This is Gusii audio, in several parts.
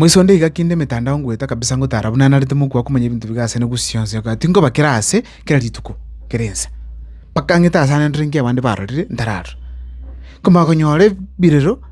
Moisonde iga kinde emetandao ngoeta kabisa ngotara buna narete mokwa komanya ebinto biga ase negusi yonsi ya Goa. Tinkoba kera ase kera rituko kera ense. Mpaka ang'ete ase ananderire nki abande barorire ntararora. Nkomanya konyora ebirero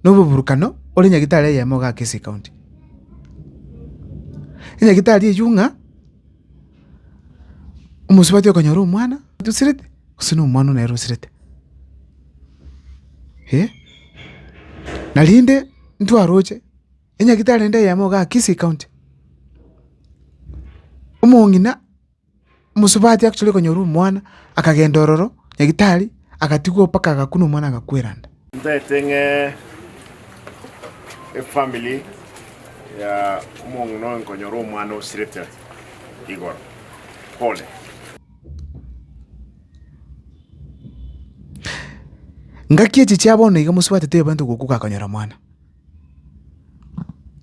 na oboburukano ore nyagetari eyemo iga Kisii County. Enyagetari eyio ng'a. Omosubati okonyora omwana tosirete, gose na omwana nere osirete, eh. Narinde ntwaroche enyagitari ende eyemo igaa Kisii county, omong'ina mosubati actually okonyora omwana akagenda ororo nyagitari agatigwa mpaka agakwa na omwana agakweranda. Ntaete ng'e efamili ya omong'ina oyo nkonyora omwana osirete igoro. Pole. Ngaki echi chia bono iga mosubate toyobe nto goku gakonyora mwana.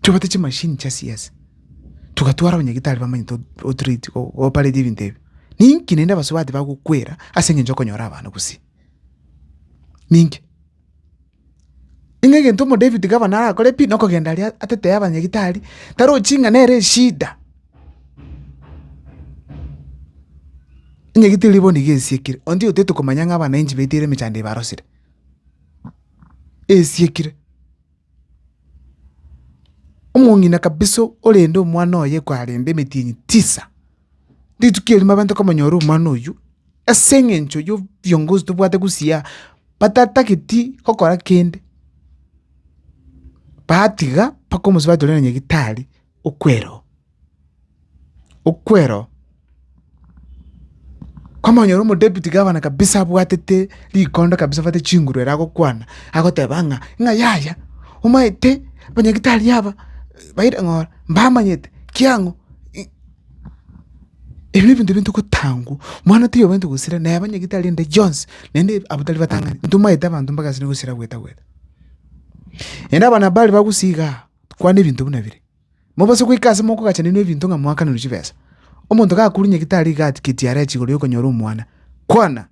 Tobate chi machine chia siasa. Tugatwara abanyagitari bamanye to o treat o operate ebinto ebi. Ninki naende abasubati bagokwera ase engencho okonyora abana gusii. ninki? Ng'a egento omodavid gavana arakore pi nokogenda aria atetee abanyagitari, tarochi ng'a nere eshida, enyagitari eria bono iga esiekire, onde otagete komanya ng'a abanainchi baitire emechando eye barosire, esiekire. Omong'ina kabisa orende omwana oye kwarende emetienyi tisa, rituko erimo abanto komonyora omwana oywo, ase eng'encho yo viongozi tobwate gusii batatageti gokora kende, batiga mpaka omosie batorera nyagetari. okwero, okwero kwamanyora omodebiti gavana kabisa abwatete rikondo kabisa abwate chinguru ere agokwana agoteba ng'a ng'a yaya omanyete abanyagitari aba baire ng'ora mbamanyete kiang'o ebi ne ebinto bintogotangwa mwana taiyo obwenerete gosira naye abanyagitari ende chionsi naende abwo tari batang'ani ntomanyete abanto mbagasi gosira gwetagweta. Naende abana bare bagusigaa. Kwana ebinto buna bire, mobose goika aase mokogachanenwa ebinto ng'a moakananwe chibesa. Omonto gakure nyagitari iga atigeti are chigoro y'okonyora omwana, kwana!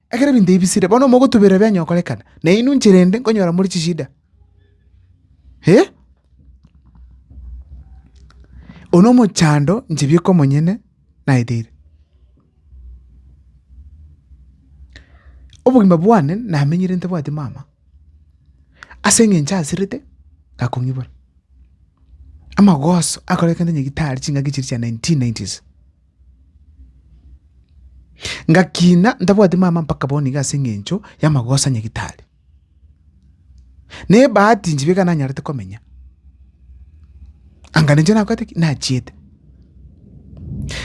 Ekero ebinto ebi bisire, bono mogotuberera bianya gokorekana, na inwe inchera ende nkonyora more chishida. Hee? Oyo nomochando inche bieka omonyene. naeteire. Obogima bwane namenyire ntabwati mama, ase eng'encho aserete gakong'ibora. Amagoso akorekende nyagitari chingaki chiria chia nineteen nineties, ngakina ntabwati mama mpaka bono iga ase eng'encho y'amagoso a nyagitari. Nebahati inche iga nanyarete komenya, anga ninche nakorete ki? Nachiete.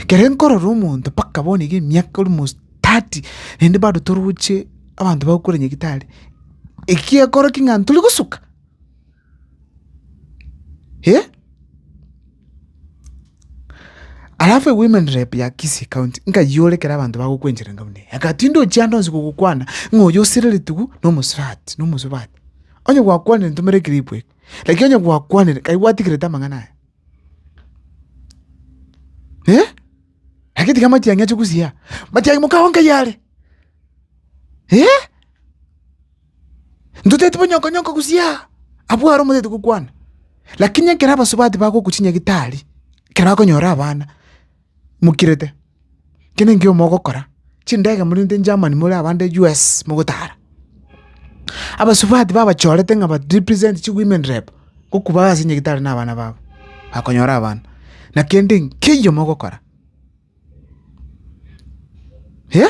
Kere nkorora omonto mpaka bono iga emiaka almost thirty, naende bado toroche abanto bagokora nyagetari, ekiekora ki ng'a torigosoka. Eh? Alafu ewomen rep ya Kisii County nkayore kera abantu bagokwenchera ngabuna eye. Agati ndochi ande onsi gogokwana ng'a oyo osereretigu na omosubati, na omosubati. Onye gwakwanire ntomera eclip eke. Lakini onye gwakwanire kai gwatigerete amang'ana aya. Eh? Lakini tiga matiang'i ache gusiyia. Matiang'i mokagonka yare. Eh? Ntotaeti bonyongo nyongo gusii aa, abwo aro omotaeti gokwana. Lakini ekero abasubati bagoku chinyagitari, ekero bakonyora abana, mokirete, ki ninki omogokora? Chindege morente Germany more abande US mogotara. Abasubati babachorete ng'a ba represent chi women rep, goku baase nyagitari na abana babo, bakonyora abana. Nakende nkiya mogokora. Hee?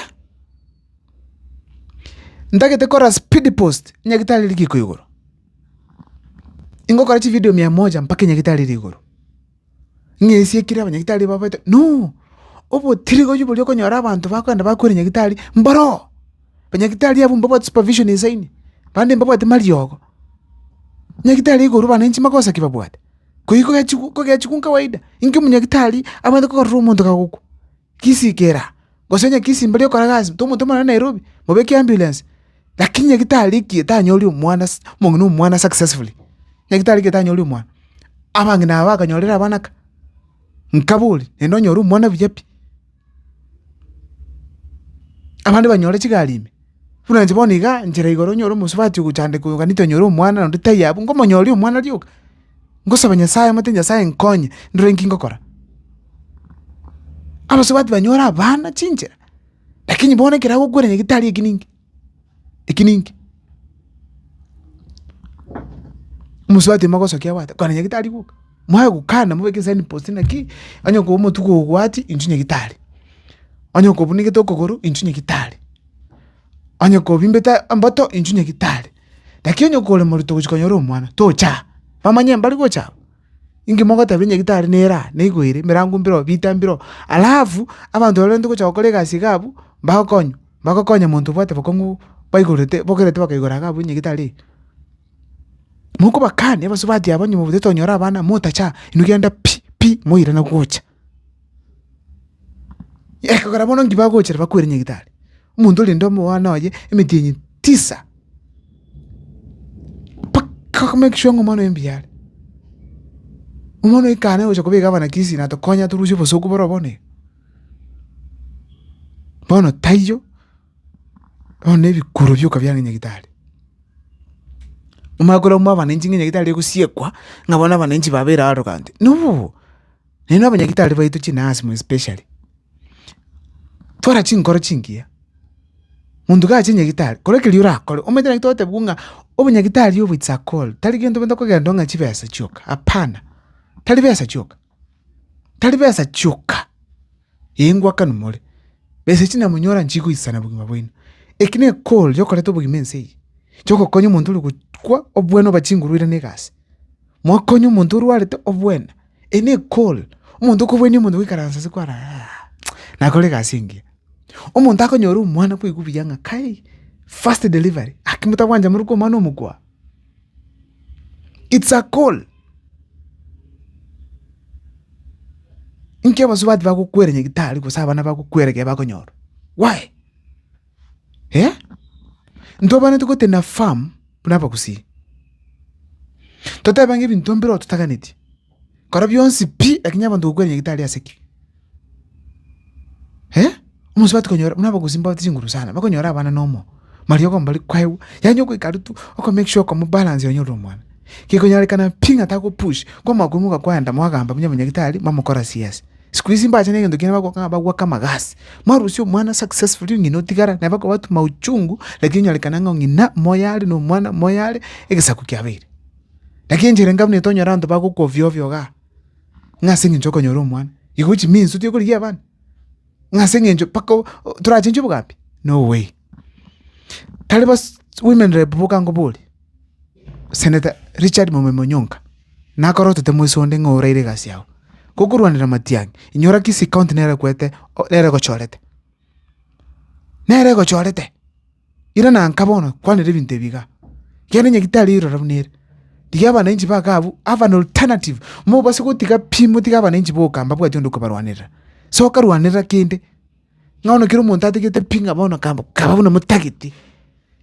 Ntagete kora speed post nyagitari riko igoro. Ingokora chi video mia moja mpaka nyagitari ri igoro. Ng'esie ekire abanyagitari babaete no obotirigoyu boria okonyora abanto bakogenda bakwire nyagitari mboro. Banyagitari abwo mbabwate supervision esaini, bande mbabwate mariogo. Nyagitari igoro bana inche magosa ki babwate? Koigwa kogechigwa nka kawaida, inki omonyagetari abwate kokorera omonto kagokwa? Gisikera, gose onye kisimba erio ekorega ase omonto omonene Nairobi, mobeke ambulance. Lakini nyagetari ekie tanyori omwana ase omong'ina omwana successfully, nyagetari ekie tanyori omwana. Abang'ina aba bakanyorire abana ka, nkabe oria, naende onyore omwana buya pi. Abande banyore chigari ime, buna inche bono igaa, nchera igoro nyore omosubati ogochandeka oyo gani tonyore omwana naende taiyo abwo, nkomonyoria omwana rioka, ngosaba Nyasaye omanyete Nyasaye nkonye ndore nki ngokora. Abasubati banyore abana chinchera, lakini bono ekero agokwera nyagitari eki ninki. Eki ninki? Omosubati mogosokia abwate kona nyagetari goka, mwaya gokana mobeke sign post naki, onye koba omotuko obwati inchuo nyagetari, onye koba obunekete okogoro inchuo nyagetari, onye koba obimbete emboto inchuo nyagetari, lakini onye kore morito gochia konyora omwana, tocha aa, bamanye mbari gocha aa. Inki mogoteba onye gitari nere aa, nigo ere, emerango mbire oo, bita mbire oo. Alafu, abanto baria barenge gocha gokora egasi iga abwo, mbagokonywa, mbagokonya monto obwate bokong'u baigorete bogerete bakaigora iga abwo onye gitari eye. Mokobakani abasubati aba onye mobwate tonyora abana, motacha, inwe genda pi, pi, moirana gocha. Ekogera bono inki bagochera bakwere nyagetari, omonto ore rende omwana oye emetienyi tisa, mpaka oko make sure ng'a omwana oye mbuya are. Omwana oye kare nagocha koba egavana kisii natokonya torusie obosuku boro bono iga. Bono taiyo, bono na ebikuro bioka biarenge nyagetari. Omanye korwa mwa abananchi ng'a nyagetari egosiekwa ng'a bono abananchi babera aro gante, nobobo. Nainwe abanyagitari baito chinansi more specially, twara chinkoro chingiya, monto gacha nyagitari kora ekeria orakore, omanyete naki togotebigwa ng'a obonyagitari obo it's a call, tari gento gento okogenderwa ng'a chibesa chioka, hapana, tari besa chioka, tari besa chioka, ee ngwakanwa more, besa echi namonyora nchigoisana obogima bwaino, eki ne call yokoreta obogima ense eye, chigokonya omonto ore gokwa, obwane oba chinguru ere ne egasi, Mokonye omonto orwarete obwene, eyi nekore, omonto okobwania omonto goikaransa ase kware nakore egasi engiya. Omonto akonyora omwana kwaigwa buya ng'a kai, first delivery, aki motagwancha moruke omwana omokwa? It's a call. Inki abasubati bagokwera nyagetari gose abana bagokwera ekero bakonyora? Why? Eh? Ntwabaanete gotenena farm buna abagusii, totebe ng'a ebinto mbireo totaganeti, kora bionsi pi, lakini abanto gokwenia gitari ase ki? Eh? Omosubati konyora buna abagusii mbabate chinguru sana, bakonyora abana na omoyo, mariogo mbari kwaigwa, yaani ogoika aria tu oko make sure okomobalance onyorere omwana. Gekonyarekana pi ng'a tagopush, kwamokwa imoka kwaenda mwagamba buna abanyagitari, mwamokora CS. Siku hizi mbache negento kiane bagokanga bagwake amagasi. Mwarusia omwana successfully ong'ina otigara naye bakobatuma uchungu lakini onyorekane ng'a ong'ina moyo are na omwana moyo are egesaku kiabeire. Lakini enchera enga buna etonyora abanto bagokwa ovyo ovyo igaa ng'a ase eng'encho okonyora omwana. Igo chiminsi otari korigia abana ng'a ase eng'encho mpaka o- o- torachenchwe obogambi no way. Tari bas women rep boka nkoborie. Senator Richard Momembe Onyonka, nakore otete moise onde ng'a oraire egasi yao, gokorwanera matiang'i, inyora Kisii county nere ekwete o- nere egochorete, nere egochorete, ira na nka bono kwanera ebinto ebi igaa, kere onye gitari rire ororo buna ere, tiga abananchi ba kaa abwo have an alternative, mobase gotiga pi motige abananchi boka mbabwati onde okobarwanerera, soka rwanerera kende. Ng'a bono kera omonto atigete pi ng'a bono kaba kaba buna motagete,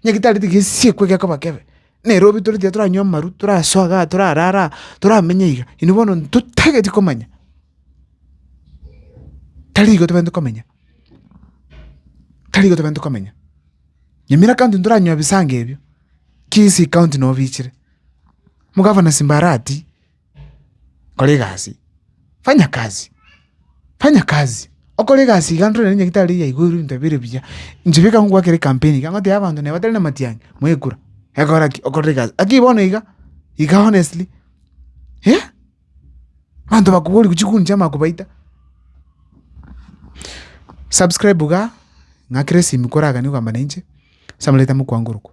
onye getareti gesiekwe gekoba kebe, nere obe toreti iga toranywe amaru, torasoa igaa, torarara aa, toramenye iga, inwe bono ntotageti komanya, tari igo tobwenerete komenya, tari igo tobwenerete komenya. Nyamira county ntoranywa ebisango ebio, kisii county nobichire, omogavana simbarati. kora egasi, fanya kazi, fanya kazi, okore egasi iga ntorerie onye gitari ya igoro ebinto bire buya, inche beka ngogwakera ekampeni iga ngotebia abanto neba tari na matiang'i mwekura, egora ki? Okore egasi, lakini bono iga, iga honestly, eh, abanto bakobori gochi gokuncha amakobaita. Subscribe igaa, ng'akere esimi koragani kogamba nainche, ase amareta 'mokwango orokwo.